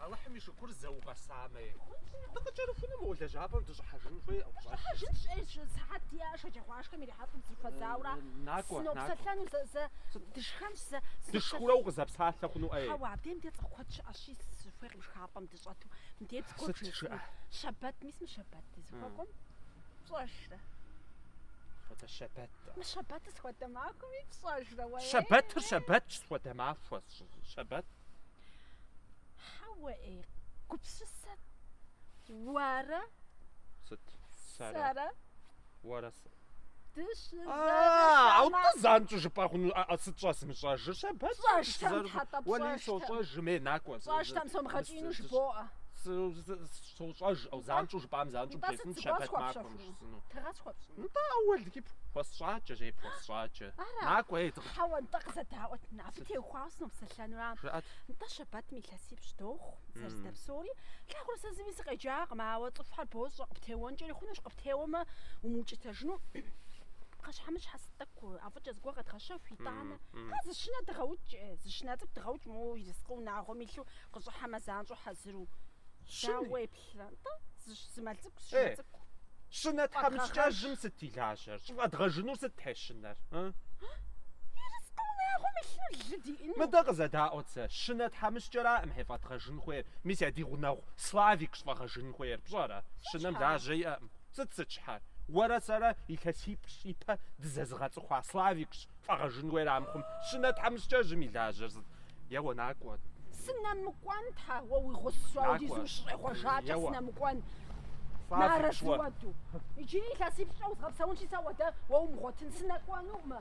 Алыхьым и шыкур зэ укъэсамэ. Дыкъыкӏэрыхуну мы лэжьапӏэм дыщӏыхьэжын хуей ӏэфӏ щӏэлъ. Щӏыхьэжын щӏейр зы сыхьэт диӏэ шэджагъуашхэм ирихьэлӏэм дызыхуэдзаура. Накӏуэ, Сынопсэлъэну зэ, зэ дышхэнщ, зэ сынопсэлъ- Дышхурэ укъызэпсалъэ хъуну ӏей? Хьэуэ, абдеи мыде цӏыху куэд щыӏэщи, сыхуейкъым шхапӏэм дыщӏэту мыде зыгуэр Сыт бжесӏэну. жыӏэ? Щэбэт, мис мы щэбэт дызыхуэкӏуэм пщӏэжрэ? Схуэдэ щэбэт? Щэбэтыр схуэдэ махуэми пщӏэжрэ уэ? Щэбэтыр щэбэтщ, схуэдэ махуэ щэбэт. Хьэуэ ей, гупсысэ уэрэ? Сыт? Сэрэ? Уэрэ сэ? Дыщызэрышамэ. А, занщӏу жыпӏэ хъуну, а сыт щӏэсмыщӏэжыр? Щэбэт. Пщӏэжтэм тхьэтӏэ пщӏэжтэ. Уэри сощӏэжым, е накӏуэ. Пщӏэжтэм сомыгъэкӏину жыбоӏэ. Сощӏэж, занщӏу жыпӏам занщӏу бжесӏын щэбэт махуэм щысыну. Тыгъэ схуэпщӏыну. Нтӏэ, Ауэл, ди пхъу, хуэсщӏакӏэ, жей пхуэсщӏакӏэ. Ара? Накӏуэ, ей, дыкъ... Хьэуэ, нтӏэ, къызэдаӏуэт, нэ абы теухуауэ сынопсэлъэнура. Жыӏэт. Нтӏэ, щэбэтым илъэсипщӏ дохъу, зэрыздэп псори. Плъагъурэ сэ зыми сыкъеджакъым, ауэ цӏыхухэр бощӏэ, къыптеуэнкӏэри хъунущ, къыптеуэмэ, умыукӏытэжыну. Пхъэщхьэмыщхьэ сыт тӏэкӏу, ӏэфӏыкӏэ зыгуэр къэдгъэщэху, итӏанэ. А, зы щынэ дыгъэукӏ, зы щынэ цӏыкӏу дыгъэукӏ, моуэ, ерыскъы унагъуэм илъу, къыщӏыхьэмэ, занщӏэу хьэзыру. Щыни? Дауэ, Щынэ тхьэмыщкӏэжым сыт и лажьэр? Щӏыфӏэдгъэжынур сыт тхьэ щынэр? Мыдэ къызэдаӏуэт сэ, щынэ тхьэмыщкӏэракъым хье фӏэдгъэжын хуейр, мис а ди гъунэгъу Славикщ фӏэгъэжын хуейр, пщӏэрэ? Щынэм лажьэ иӏэкъым. Сыт сыт щхьэр? Уэрэ сэрэ илъэсипщӏ ипэ дызэзыгъэцӏыхуа Славикщ фӏэгъэжын хуейр, амыхъум, щынэ тхьэмыщкӏэжым и лажьэр сыт? Еуэ, накӏуэ. Сынэмыкӏуэн, тхьэ, уэ уи гъусэу Накӏуэ. апхуэдизу ущыщӏегъуэжакӏэ Еуэ. сынэмыкӏуэн. Фӏа Нарэ фыкӏуэ. зыуэду. Иджыри илъэсипщӏкӏэ узгъэпсэунщи, сэ уэ дэ уэ умыгъуэтын сынэкӏуэнуӏымэ.